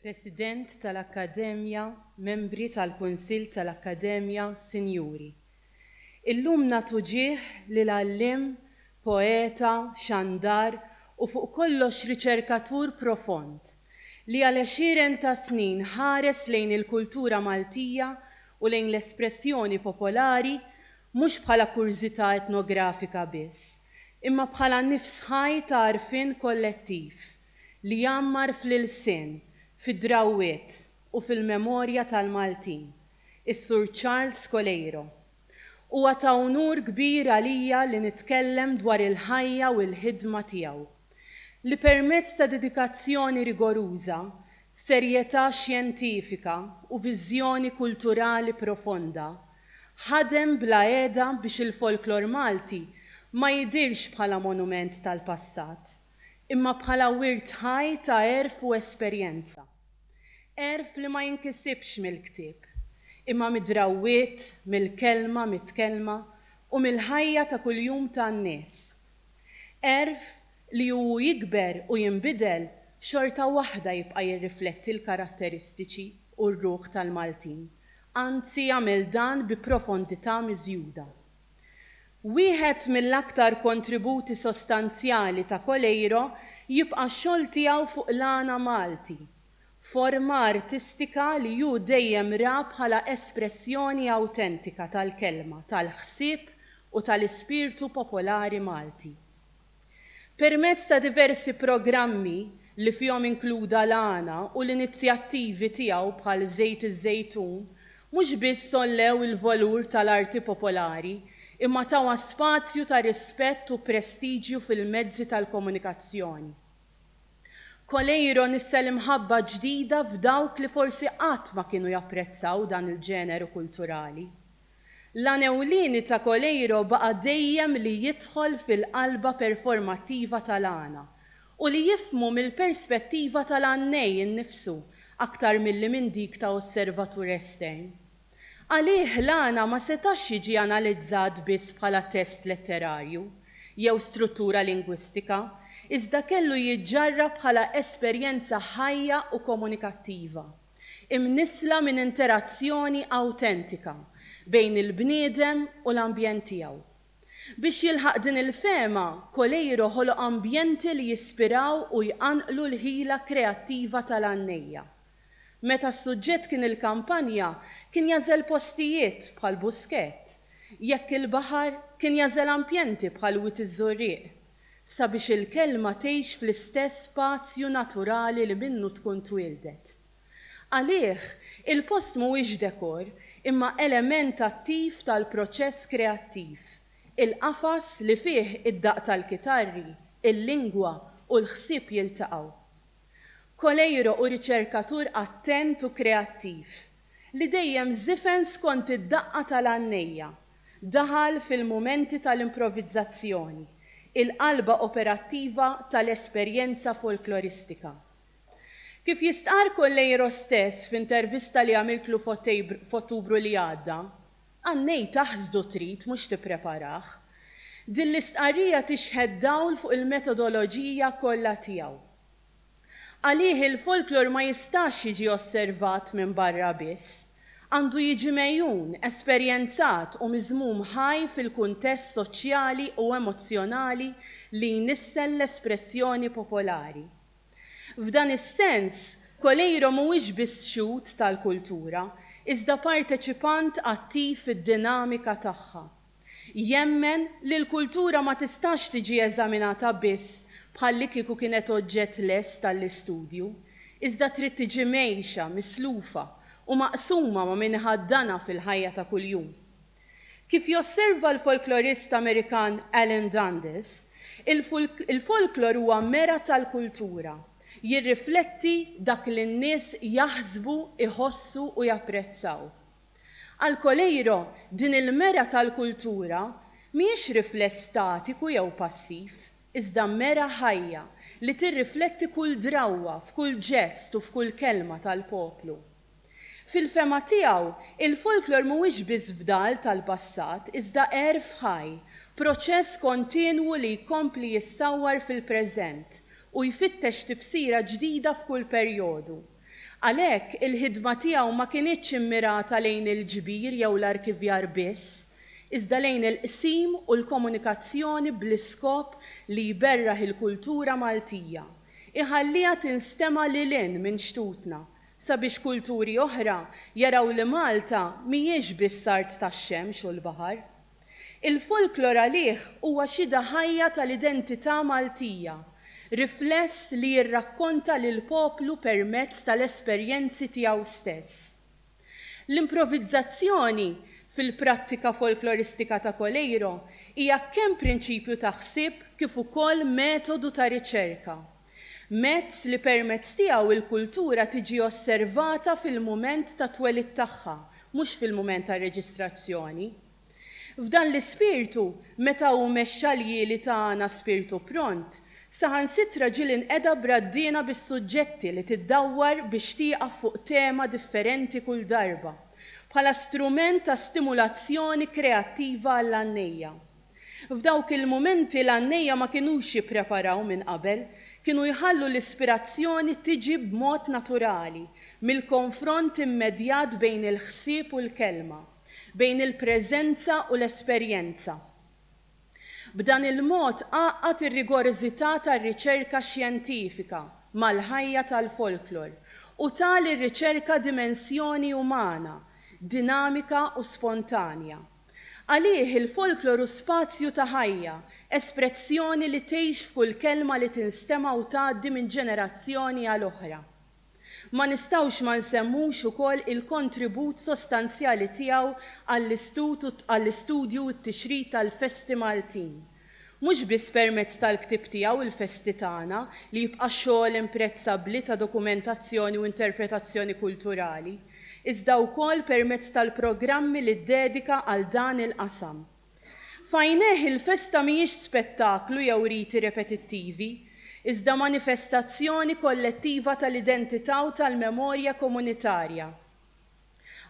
Speaker 7: President tal-Akkademja, Membri tal-Kunsill tal-Akkademja, Sinjuri. Illum nagħtu ġieħ lil għalliem, poeta, xandar u fuq kollox riċerkatur profond li għal għexieren ta' snin ħares lejn il-kultura Maltija u lejn l-espressjoni popolari mhux bħala kurżità etnografika biss, imma bħala nifs ħaj ta' għarfien kollettiv li jgħammar fl-ilsien, fid-drawwiet u fil-memorja tal-Maltin, is-Sur Charles Coleiro. Huwa ta' unur kbir għalija li nitkellem dwar il-ħajja u l-ħidma tiegħu, li permezz ta' dedikazzjoni rigoruża, serjetà xjentifika u viżjoni kulturali profonda, ħadem bla għeda biex il-folklor Malti ma jidhirx bħala monument tal-passat, imma bħala wirt ħaj ta' għerf u esperjenza. Għerf li ma jinkisibx mill-ktieb, imma mid-drawwiet, mill-kelma mitkellma u mill-ħajja ta' kuljum ta' n-nies. Għerf li u hu jikber u jinbidel xorta waħda jibqa' jirrifletti l-karatteristiċi u r-ruħ tal-Maltin anzi jagħmel dan bi profondità miżjuda. Wieħed mill-aktar kontributi sostanzjali ta' Coleiro jibqa' x-xogħol tiegħu fuq l-għana Malti, forma artistika li hu dejjem ra bħala espressjoni awtentika tal-kelma, tal-ħsieb u tal-ispirtu popolari Malti. Permezz ta' diversi programmi li fihom inkluda l-għana u l-inizjattivi tiegħu bħal Żejt iż-Żejtun, mhux biss għollew il-valur tal-arti popolari imma tawha spazju ta' rispett u prestiġju fil-mezzi tal-komunikazzjoni. Coleiro nissa l-imħabba ġdida f'dawk li forsi qatt ma kienu japprezzaw dan il-ġeneru kulturali. L-għan ewlieni ta' Coleiro baqa' dejjem li jidħol fil-qalba performattiva tal-għana u li jifhmu mill-perspettiva tal-għannej innifsu aktar milli minn dik ta' osservatur estern. Għalih l-għana ma setax jiġi analizzat biss bħala test letterarju jew struttura lingwistika iżda kellu jiġġarrab bħala esperjenza ħajja u komunikattiva. imnissla minn interazzjoni awtentika bejn il-bniedem u l-ambjent tiegħu. Biex jilħaq din il-fehma, Coleiro ħoloq ambjenti li jispiraw u jqanqlu l-ħila kreattiva tal-għannejja. Meta s-suġġett kien il-kampanja, kien jagħżel postijiet bħal Busquet, jekk il-baħar, kien jagħżel ampjenti bħal Wied iż-Żurrieq, sabiex il-kelma tgħix fl-istess spazju naturali li minnu tkun twieldet. Għalih, il-post mhuwiex dekor imma element attiv tal-proċess kreattiv, il-qafas li fih id-daqq tal-kitarri, il-lingwa u l-ħsieb jiltaqgħu. Coleiro hu riċerkatur attent u kreattiv, li dejjem żifen skont id-daqqa tal-għannejja Daħal fil-mumenti tal-improvvizzazzjoni, il-qalba operattiva tal-esperjenza folkloristika. Kif jistqarr Colleiro stess f'intervista li għamiltlu f'Ottubru li għadda, Annej taħsdu trid mhux tippreparah. Din l-istqarrija tixħet dawl fuq il-metodoloġija kollha tiegħu. Għalih il-folklor ma jistax jiġi osservat minn barra biss. Għandu jiġi megħjun, esperjenzat u miżmum ħaj fil-kuntest soċjali u emozzjonali li jnissel l-espressjoni popolari. F'dan is-sens, Coleiro mhuwiex biss xhud tal-kultura, iżda parteċipant attiv fid-dinamika tagħha. Jemmen li l-kultura ma tistax tiġi eżaminata biss bħallikieku kienet oġġett lest għall-istudju, iżda trid tiġi mgħejxa, mislufa, u maqsuma ma' min iħaddanha fil-ħajja ta' kuljum. Kif josserva l-folklorist Amerikan Alan Dundes, il-folklor huwa mera tal-kultura, jirrifletti dak li n-nies jaħsbu, iħossu u japprezzaw. Għal Coleiro, din il-mera tal-kultura mhijiex rifless statiku jew passiv, iżda mera ħajja li tirrifletti kull drawwa f'kull ġest u f'kull kelma tal-poplu. Fil-fehma tiegħu, il-folklor mhuwiex biss fdal tal-passat iżda għerf ħaj, proċess kontinwu li jkompli jissawwar fil-preżent u jfittex tifsira ġdida f'kull perjodu. Għalhekk, il-ħidma tiegħu ma kinitx immirata lejn il-ġbir jew l-arkivjar biss, iżda lejn il-qsim u l-komunikazzjoni bl-iskop li jberraħ il-kultura Maltija, iħalliha tinstema' lil hinn minn xtutna, sabiex kulturi oħra jaraw li Malta mhijiex biss art tax-xemx u l-baħar. Il-folklor għalih huwa xhieda ħajja tal-identità Maltija, rifless li jirrakkonta lill-poplu permezz tal-esperjenzi tiegħu stess. L-improvizzazzjoni, fil-prattika folkloristika ta' Coleiro, hija kemm prinċipju ta' ħsieb kif ukoll metodu ta' riċerka. mezz li permezz tiegħu l-kultura tiġi osservata fil-mument tat-twelid tagħha, mhux fil-mument tar-reġistrazzjoni. F'dan l-ispirtu, meta hu mexxa l-jieli tagħna spirtu pront, saħansitra ġieli inqeda b'raddiena bis-suġġetti li tiddawwar biex tieqaf fuq tema differenti kull darba, bħala strument ta' stimulazzjoni kreattiva għall-għannejja. F'dawk il-mumenti l-għannejja ma kinux jippreparaw minn qabel, kienu jħallu l-ispirazzjoni tiġi b'mod naturali mill-konfront immedjat bejn il-ħsieb u l-kelma, bejn il-preżenza u l-esperjenza. B'dan il-mod għaqqad ir-rigorżità tar-riċerka xjentifika mal-ħajja tal-folklor u ta lir-riċerka dimensjoni umana, dinamika u spontanja. Għalih il-folklor hu spazju ta' ħajja, esprezzjoni li tgħix f'kull kelma li tinstema' u tgħaddi minn ġenerazzjoni għal oħra. Ma nistgħux ma nsemmux ukoll il-kontribut sostanzjali tiegħu għall-istudju u t-tixrid tal-festi Maltin, mhux biss permezz tal-ktieb tiegħu Il-Festi Tagħna, li jibqa' xogħol imprezzabbli ta' dokumentazzjoni u interpretazzjoni kulturali, iżda wkoll permezz tal-programmi li ddedika għal dan il-qasam. F'għajnejh il-festa mhijiex spettaklu jew riti repetittivi, iżda manifestazzjoni kollettiva tal-identità u tal-memorja komunitarja.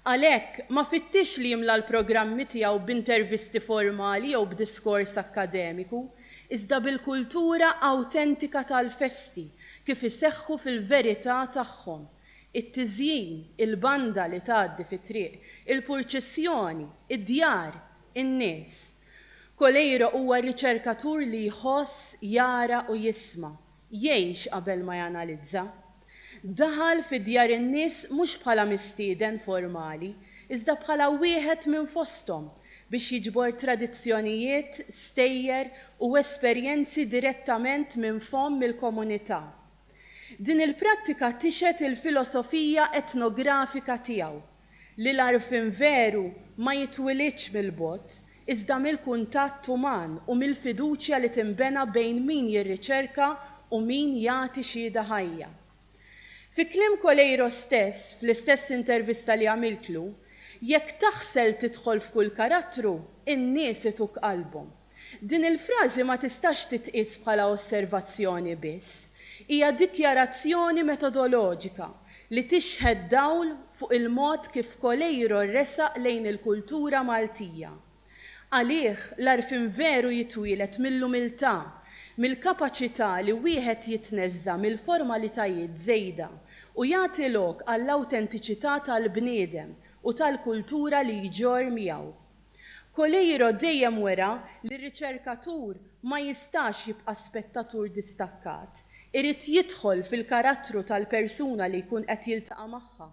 Speaker 7: Għalhekk, ma fittixx li jimla l-programmi tiegħu b'intervisti formali jew b'diskors akkademiku, iżda bil-kultura awtentika tal-festi kif iseħħu fil-verità tagħhom, it-tiżjin, il-banda li tgħaddi fit-triq, il-purċissjoni, id-djar, in-nies. Coleiro huwa riċerkatur li jħoss, jara u jisma'. Jgħix qabel ma janalizza. Daħal fi djar in-nies mhux bħala mistieden formali, iżda bħala wieħed minn fosthom biex jiġbor tradizzjonijiet, stejjer u esperjenzi direttament minn fomm il-komunità. Din il-prattika tixhed il-filosofija etnografika tiegħu. li l-għarfien veru ma jitwilidx mill-bogħod, iżda mill-kuntatt uman u mill-fiduċja li tinbena bejn min jirriċerka u min jagħti xiehda ħajja. Fi kliem Coleiro stess, fl-istess intervista li għamiltlu, Jekk taħsel tidħol f'kull karattru, in-nies ituk qalbhom. Din il-frażi ma tistax titqies bħala osservazzjoni biss. Hija dikjarazzjoni metodoloġika li tixħet dawl fuq il-mod kif Coleiro resaq lejn il-kultura Maltija. Għalih, l-għarfien veru jitwieled mill-umiltà, mill-kapaċità li wieħed jitneżża' mill-formalitajiet żejda u jagħti lok għall-awtentiċità tal-bniedem u tal-kultura li jġorr miegħu. Coleiro dejjem wera li r-riċerkatur ma jistax jibqa' spettatur distakkat, irid jidħol fil-karattru tal-persuna li jkun qed jiltaqa' magħha,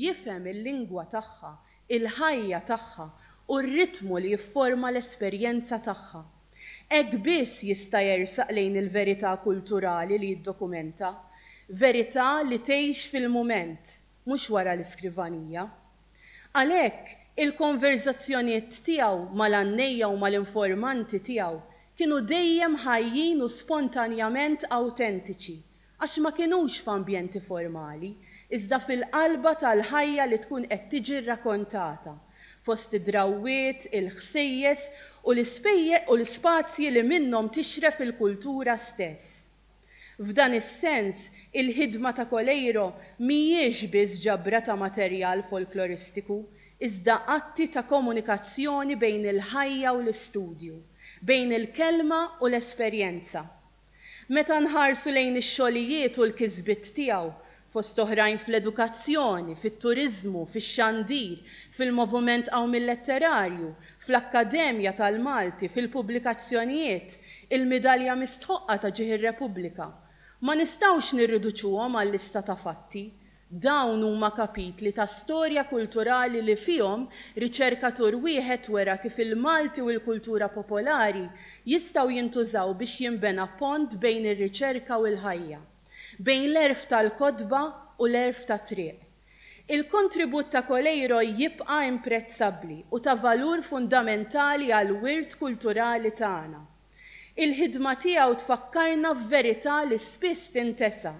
Speaker 7: jifhem il-lingwa tagħha, il-ħajja tagħha u r-ritmu li jifforma l-esperjenza tagħha. Hekk biss jista' jersaq lejn il-verità kulturali li jiddokumenta, verità li tgħix fil-mument, mhux wara l-iskrivanija. Għalhekk, il-konverżazzjoniet tiegħu mal-għannejja u mal-informanti tiegħu kienu dejjem ħajjin u spontanjament awtentiċi għax ma kinux f'ambjenti formali, iżda fil-qalba tal-ħajja li tkun qed tiġi rrakontata, fost id-drawwiet, il-ħsejjes u l-ispazji li minnhom tixref il-kultura stess. F'dan is-sens, il-ħidma ta' Coleiro mhijiex biss ġabra ta' materjal folkloristiku, iżda atti ta' komunikazzjoni bejn il-ħajja u l-istudju, bejn il-kelma u l-esperjenza. Meta nħarsu lejn ix-xogħlijiet u l-kisbiet tiegħu, fost oħrajn fl-edukazzjoni, fit-turiżmu, fix-xandir, fil-moviment qawmil letterarju, fl-Akkademja tal-Malti, fil-pubblikazzjonijiet, il-Midalja Mistħoqqa ta' Ġieħ ir-Repubblika. Ma nistgħux nirriduċuhom għal lista ta' fatti. Dawn huma kapitli ta' storja kulturali li fihom riċerkatur wieħed wera kif il-Malti u l-kultura popolari jistgħu jintużaw biex jinbena pont bejn ir-riċerka u l-ħajja. bejn l-għerf tal-kotba u l-għerf tat-triq. Il-kontribut ta' Coleiro jibqa' imprezzabbli u ta' valur fundamentali għall-wirt kulturali tagħna. Il-ħidma tiegħu tfakkarna f'verità li spiss tintesa,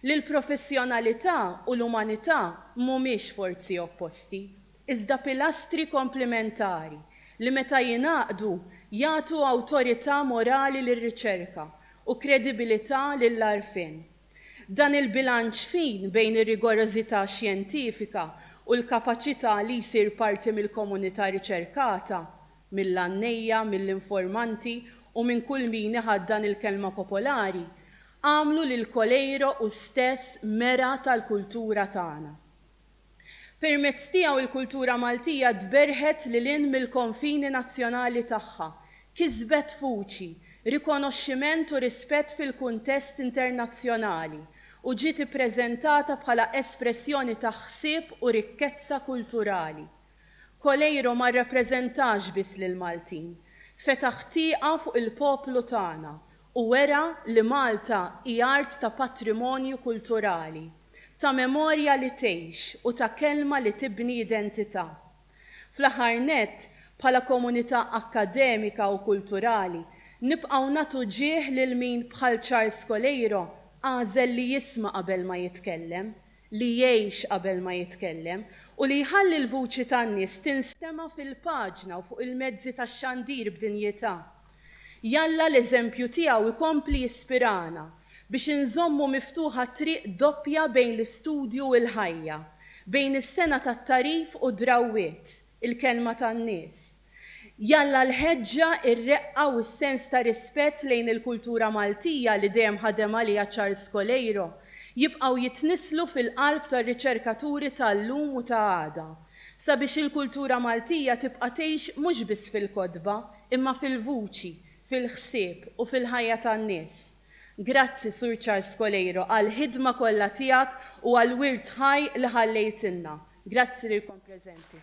Speaker 7: li l-professjonalità u l-umanità mhumiex forzi opposti, iżda pilastri komplimentari li meta jingħaqdu jagħtu awtorità morali lir-riċerka u kredibilità lill-għarfien. Dan il-bilanċ fin bejn ir-rigorożità xjentifika u l-kapaċità li jsir parti mill-komunità riċerkata, mill-għannejja, mill-informanti u minn kull min iħaddan il-kelma popolari, għamlu lil Coleiro hu stess mera tal-kultura tagħna. Permezz tiegħu il-kultura Maltija tberħet lil hinn mill-konfini nazzjonali tagħha, kisbet vuċi, rikonoxximent u rispett fil-kuntest internazzjonali, u ġiet ippreżentata bħala espressjoni ta' ħsieb u rikkezza kulturali. Coleiro ma rrappreżentax biss lill-Maltin. Fetaħ tieqa fuq il-poplu tagħna u wera li Malta hi art ta' patrimonju kulturali, ta' memorja li tgħix u ta' kelma li tibni identità. Fl-aħħar nett, bħala komunità akkademika u kulturali, nibqgħu nagħtu ġieħ lil min bħal Charles Coleiro għażel li jisma' qabel ma jitkellem, li jgħix qabel ma jitkellem, u li jħalli l-vuċi tan-nies tinstema' fil-paġna u fuq il-mezzi tax-xandir b'dinjità. Jalla l-eżempju tiegħu jkompli jispirana biex inżommu miftuħa t-triq doppja bejn l-istudju u l-ħajja, bejn is-sengħa tat-tagħrif u d-drawwiet, il-kelma tan-nies. Jalla l-ħeġġa, ir-reqqa u s-sens ta' rispett lejn il-kultura Maltija li dejjem ħadem għaliha Charles Coleiro jibqgħu jitnisslu fil-qalb tar-riċerkaturi ta' llum u ta' għada sabiex il-kultura Maltija tibqa' tgħix mhux biss fil-kotba imma fil-vuċi, fil-ħsieb u fil-ħajja tan-nies. Grazzi Sur Charles Coleiro għall-ħidma kollha tiegħek u għall-wirt ħaj li ħallejtilna. Grazzi lilkom preżenti.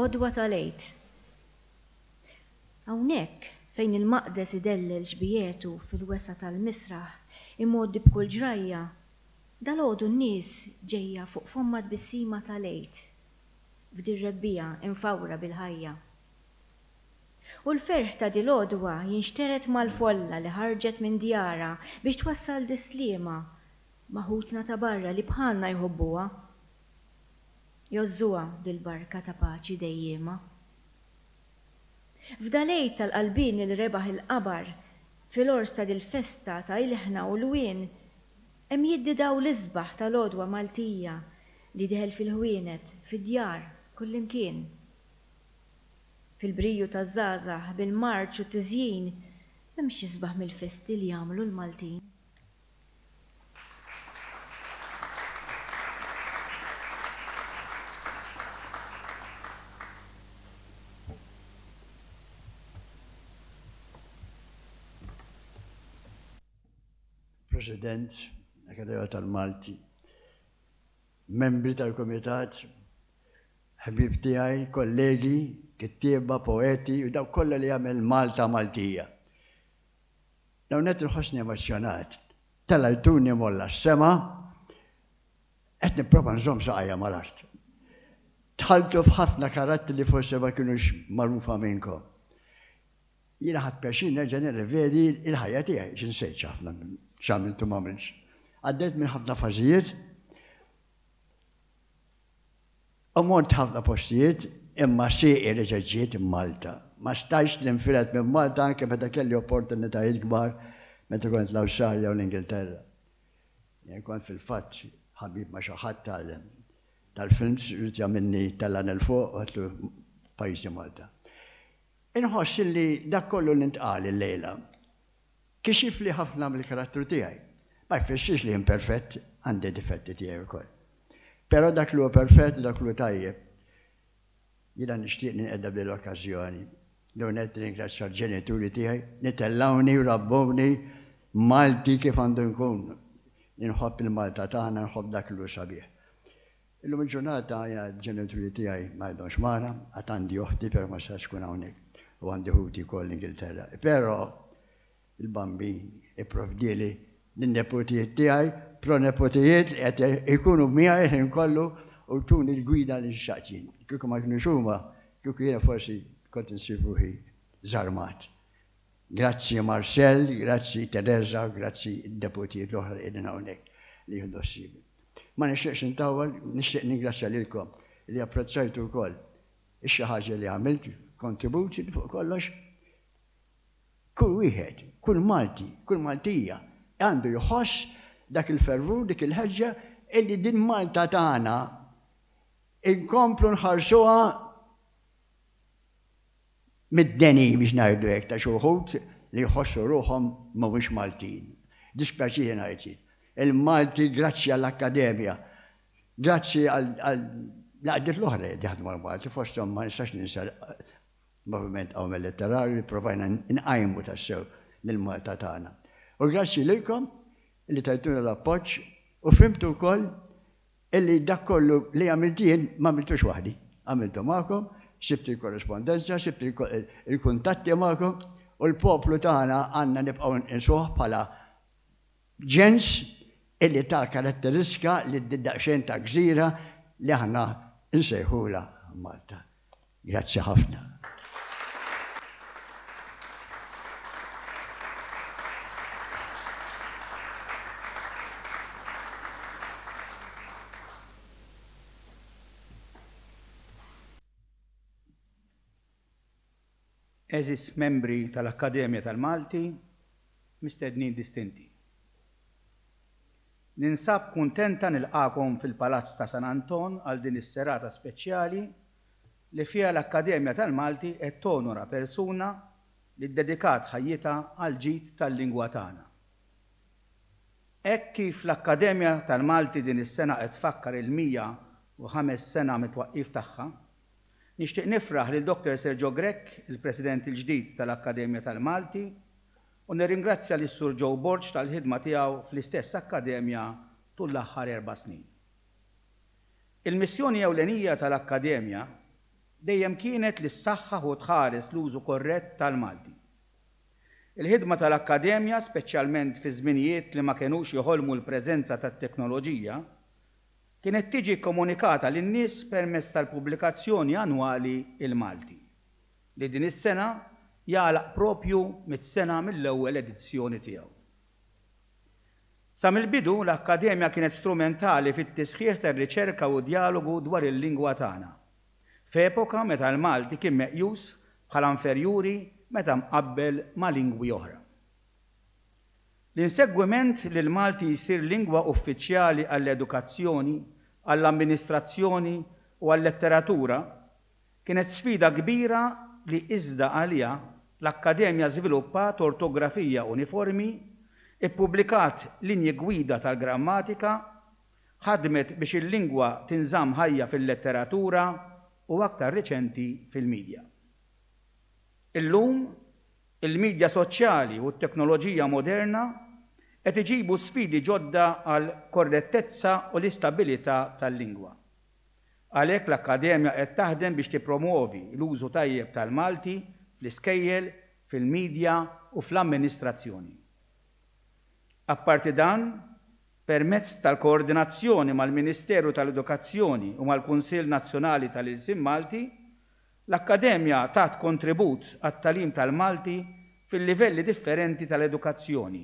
Speaker 8: Għodwa tal-Għid Hawnhekk, fejn il-maqdes idellel xbijietu fil-wesgħa tal-misraħ imgħoddi b'kull ġrajja, dalgħodu n-nies ġejja fuq fommha tbissima tal-Għid f'dir-rebbiegħa imfawra bil-ħajja. U l-ferħ ta' dil-għodwa jinxtered mal-folla li ħarġet minn djarha biex twassal dis-sliema ma' ħutna ta' barra li bħalna jħobbuha. Jgħożżuha dil-barka ta' paċi dejjiema. F'dal-Għid tal-Qalbieni li rebaħ il-qabar, fil-għors ta' dil-festa ta' ilħna u lwien, hemm jiddi dawl l-isbaħ tal-għodwa Maltija li deħel fil-ħwienet, fid-djar, kullimkien. Fil-briju taż-żgħażagħ, bil-marċ u t-tiżjin, m'hemmx isbaħ mill-festi li jagħmlu l-Maltin.
Speaker 5: President, Akademija tal-Malti, membri tal-Komitat, ħbib tiegħi, kollegi, kittieba, poeti, u daw kollha li jagħmel Malta Maltija. L-ewwel nett inħossni emozzjonat. Tela' jduni mgħolla s-sema, qed nipprova nżomm saqajja mal-art. Dħaltu f'ħafna karattri li forsi ma kinux magħrufa minnkom. Jiena ħadt pjaċir nerġa' nirrevedi l-ħajja tiegħi, x'insejtx ħafna minn x'għamilt u m'għamiltx. Għaddejt minn ħafna fażijiet. U mort ħafna postijiet imma sieqi reġgħet ġiet Malta. Ma stajtx ninfired minn Malta anke meta kelli opportunitajiet kbar meta kont l-Awstralja u l-Ingilterra. Jien kont fil-fatt ħabib ma' xi ħadd tal tal-films ried jagħmilni tellagħni 'l fuq u għedtlu pajjiżi Malta. Inħoss illi dak kollu li ntqal illejla Kixif li ħafna mill-karattru tiegħi. Ma jfissirx li jien perfett, għandi d-difetti tiegħi wkoll. Però dak li hu perfett, dak li hu tajjeb. Jiena nixtieq ninqeda b'din l-okkażjoni. L-ewwel nett nirringrazzja l-ġenituri tiegħi li tellgħuni u rabbewni Malti kif għandu nkun. Inħobb il-Malta tagħna, inħobb dak li hu sabiħ. Illum il-ġurnata l-ġenituri tiegħi ma għadhomx magħna, għad għandi oħti però ma setgħetx tkun hawnhekk u għandi ħuti wkoll l-Ingilterra. Però il-Bambin ipprovdieli lin-neputijiet tiegħi, proneputijiet li qed ikunu miegħi l-ħin kollu u jtuni l-gwida li nxtaqt jien. Kieku ma kinux huma, kieku jiena forsi kont insib ruħi żarmat. Grazzi Marcel, grazzi Teresa, grazzi d-deputiet l-oħra li qegħdin hawnhekk li jieħdu ħsieb. Ma nixtieqx intawwal, nixtieq ningrazzja lilkom li apprezzajtu wkoll ix-xi ħaġa li għamilt, kontribut li fuq kollox kull wieħed, kull Malti, kull Maltija għandu jħoss dak il-fervur, dik il-ħeġġa illi din Malta tagħna inkomplu nħarsuha Middenin biex ngħidu hekk ta' xi wħud li jħossu ruħhom mhumiex Maltin. Dispjaċini ngħid jien. Il-Malti grazzi għall-Akkademja, grazzi għal l-għaqdiet l-oħra qed jaħdmu mal-Malti fosthom ma nistax ninsa l-Moviment Qawmien Letterarju li provajna nqajmu tassew lill-Malta tagħna. U grazzi lilkom li tajtuna l-appoġġ u fhimtu wkoll Illi dak kollu li għamilt jien ma għamiltux waħdi. Għamiltu magħkom, sibt il-korrespondenza, sibt il-kuntatti magħkom, u l-poplu tagħna għandna nibqgħu nqisuh bħala ġens illi ta karatteristika lil din daqsxejn ta' gżira li aħna nsejħulha Malta. Grazzi ħafna.
Speaker 9: Għeżież membri tal-Akkademja tal-Malti, mistednin distinti. Ninsab kuntenta nilqagħkom fil-Palazz ta' San Anton għal din is-serata speċjali li fiha l-Akkademja tal-Malti qed tonora persuna li ddedikat ħajjitha għall-ġid tal-lingwa tagħna. Hekk kif l-Akkademja tal-Malti din is-sena qed tfakkar il-105 sena mit-twaqqif tagħha, Nixtieq nifraħ lil Dr. Sergio Grech, il-President il-ġdid tal-Akkademja tal-Malti, u nirringrazzja lis-Sur Joe Borg tal-ħidma tiegħu fl-istess Akkademja tul l-aħħar erba' snin. Il-missjoni ewlenija tal-Akkademja dejjem kienet li ssaħħaħ u tħares l-użu korrett tal-Malti. Il-ħidma tal-Akkademja, speċjalment fi żminijiet li ma kenux joħolmu l-preżenza tat-teknoloġija, kienet tiġi kkomunikata lin-nies permezz tal-pubblikazzjoni annwali Il-Malti, li din is-sena jagħlaq proprju mitt sena mill-ewwel edizzjoni tiegħu. Sa mill-bidu, l-Akkademja kienet strumentali fit-tisħiħ tar-riċerka u d-djalogu dwar il-lingwa tagħna, f'epoka meta l-Malti kien meqjus bħala inferjuri meta mqabbel ma' lingwi oħra. L-insegwiment li l-Malti jsir lingwa uffiċjali għall-edukazzjoni, għall-amministrazzjoni u għal-letteratura kienet sfida kbira li iżda għaliha l-Akkademja żviluppat ortografija uniformi, ippubblikat linji gwida tal-grammatika, ħadmet biex il-lingwa tinżamm ħajja fil-letteratura u aktar riċenti fil-midja. Illum, Il-midja soċjali u t-teknoloġija moderna qed iġibu sfidi ġodda għall-korrettezza u l-istabilità tal-lingwa. Għalhekk l-Akkademja qed taħdem biex tippromwovi l-użu tajjeb tal-Malti fl-iskejjel, fil-midja u fl-amministrazzjoni. Apparti dan, permezz tal-koordinazzjoni mal-Ministeru tal-Edukazzjoni u mal-Kunsill Nazzjonali tal-Ilsien Malti, L-Akkademja tat kontribut għat-tagħlim tal-Malti fil-livelli differenti tal-edukazzjoni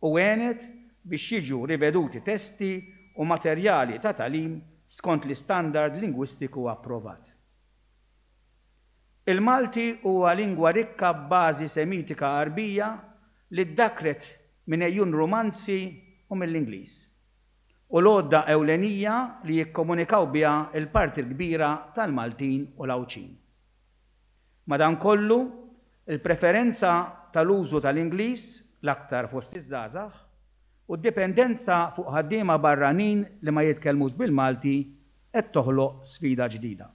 Speaker 9: u għenet biex jiġu riveduti testi u materjali ta' tagħlim skont l-istandard lingwistiku approvat. Il-Malti huwa lingwa rikka b'bażi Semitika Għarbija li ddakkret minn għejun Rumanzi u mill-Ingliż. u l-għodda ewlenija li jikkomunikaw biha l-parti l-kbira tal-Maltin u l-Għawdxin. Madankollu, il-preferenza tal-użu tal-Ingliż, l-aktar fost iż-żgħażagħ, u d-dipendenza fuq ħaddiema barranin li ma jitkellmux bil-Malti qed toħloq sfida ġdida.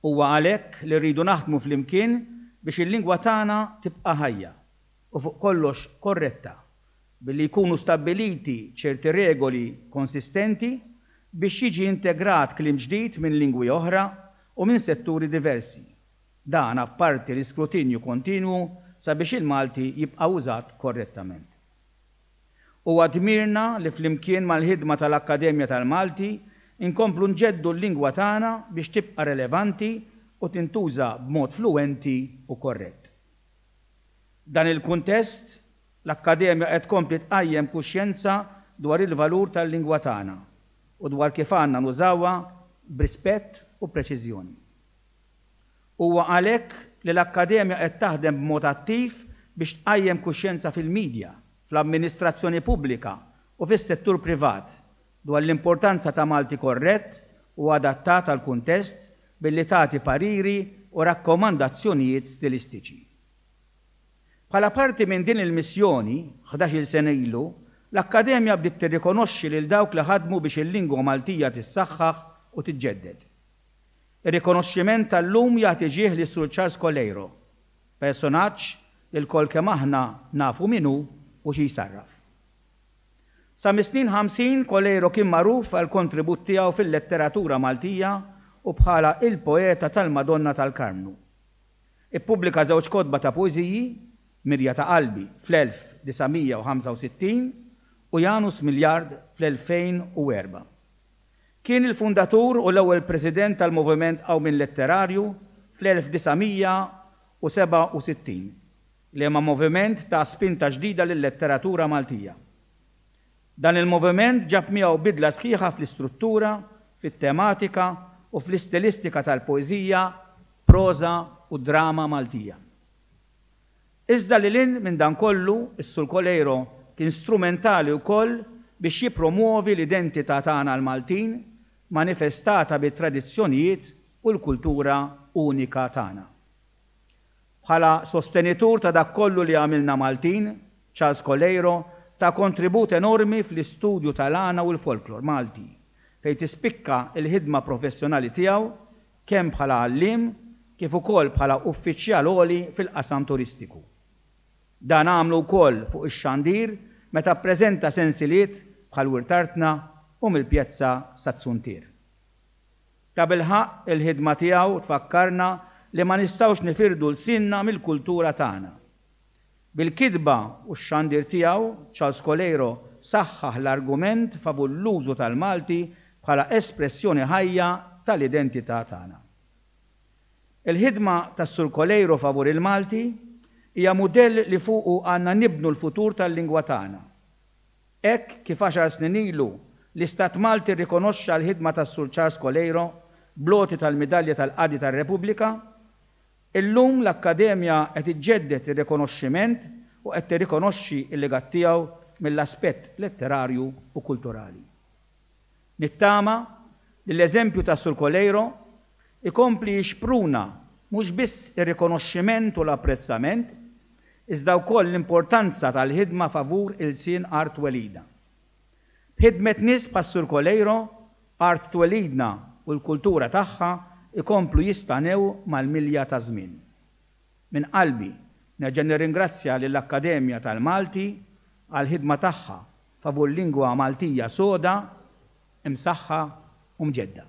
Speaker 9: Huwa għalhekk li rridu naħdmu flimkien biex il-lingwa tagħna tibqa' ħajja u fuq kollox korretta billi jkunu stabbiliti ċerti regoli konsistenti biex jiġi integrat kliem ġdid minn lingwi oħra u minn setturi diversi, dan apparti l-iskrutinju kontinwu sabiex il-Malti jibqa' użat korrettament. Huwa dmirna li flimkien mal-ħidma tal-Akkademja tal-Malti nkomplu nġeddu l-lingwa tagħna biex tibqa' relevanti u tintuża b'mod fluwenti u korrett. F'dan il-kuntest, L-Akkademja qed tkompli tqajjem kuxjenza dwar il-valur tal-lingwa tagħna u dwar kif għandna nużawha b'rispett u preċiżjoni. Huwa għalhekk li l-Akkademja qed taħdem b'mod attiv biex tqajjem kuxjenza fil-midja, fl-amministrazzjoni pubblika u fis-settur privat dwar l-importanza ta' Malti korrett u adattat għall-kuntest billi tagħti pariri u rakkomandazzjonijiet stilistiċi. Bħala parti minn din il-missjoni, ħdax-il sena ilu, l-Akkademja bdiet tirrikonoxxi lil dawk li ħadmu biex il-lingwa Maltija tissaħħaħ u tiġġedded. Ir-rikonoxximent tal-lum jagħti ġieħ lil Sur Charles Coleiro, personaġġ li lkoll kemm aħna nafu min hu u xi jsarraf. Sa mis-snin ħamsin, Coleiro kien magħruf għall-kontribut tiegħu fil-letteratura Maltija u bħala il-poeta tal-Madonna tal-Karmnu. Ippubblika żewġ kotba ta' poeżiji, Mirja ta' Qalbi fl-1965 u Janus Miljard fl-2004. Kien il-fundatur u l-ewwel President tal-Moviment Qawmien Letterarju fl-1967, liema moviment ta spinta ġdida lil-letteratura Maltija. Dan il-moviment ġab miegħu bidla sħiħa fl-istruttura, fit-tematika u fl-istilistika tal-poeżija, proża u drama Maltija. Iżda lil hinn minn dan kollu, is-Surkoleiro kien strumentali wkoll biex jippromwovi l-identità tagħna l-Maltin manifestata bit-tradizzjonijiet u l-kultura unika tagħna. Bħala sostenitur ta' dak kollu li għamilna Maltin, Charles Coleiro ta kontribut enormi fl-istudju tal-għana u l-folklor Malti, fejn tispikka l-ħidma professjonali tiegħu kemm bħala għalliem kif ukoll bħala uffiċjal għoli fil-qasam turistiku. Dan għamlu wkoll fuq ix-xandir meta ppreżenta sensiliet bħal Wirt Artna u Mill-Pjezza sat-Suntier. Tabilħaqq, il-ħidma tiegħu tfakkarna li ma nistgħux nifirdu lsienna mill-kultura tagħna. Bil-kitba u x-xandir tiegħu, Charles Coleiro saħħaħ l-argument favur l-użu tal-Malti bħala espressjoni ħajja tal-identità tagħna. Il-ħidma tas-Sur Coleiro favur il-Malti hija mudell li fuqu għandna nibnu l-futur tal-lingwa tagħna, Hekk kif għaxar snin ilu, l-Istat Malti rrikonoxxa l-ħidma tas-Sur Charles Coleiro bl-għoti tal-Midalja tal-Qadi tar-Repubblika, illum l-Akkademja qed iġġedded ir-rikonoxximent u qed tirrikonoxxi l-legat tiegħu mill-aspett letterarju u kulturali. Nittama li l-eżempju ta' Sur Coleiro jkompli jixpruna mhux biss ir-rikonoxximent u l-apprezzament, iżda wkoll l-importanza tal-ħidma favur ilsien art twelidna. B'ħidmet nies bħas-Sur Coleiro, art twelidna u l-kultura tagħha jkomplu jistanew mal-milja taż-żmien. Minn qalbi nerġa' nirringrazzja lill-Akkademja tal-Malti għall-ħidma tagħha favur lingwa Maltija soda, imsaħħa u mġedda.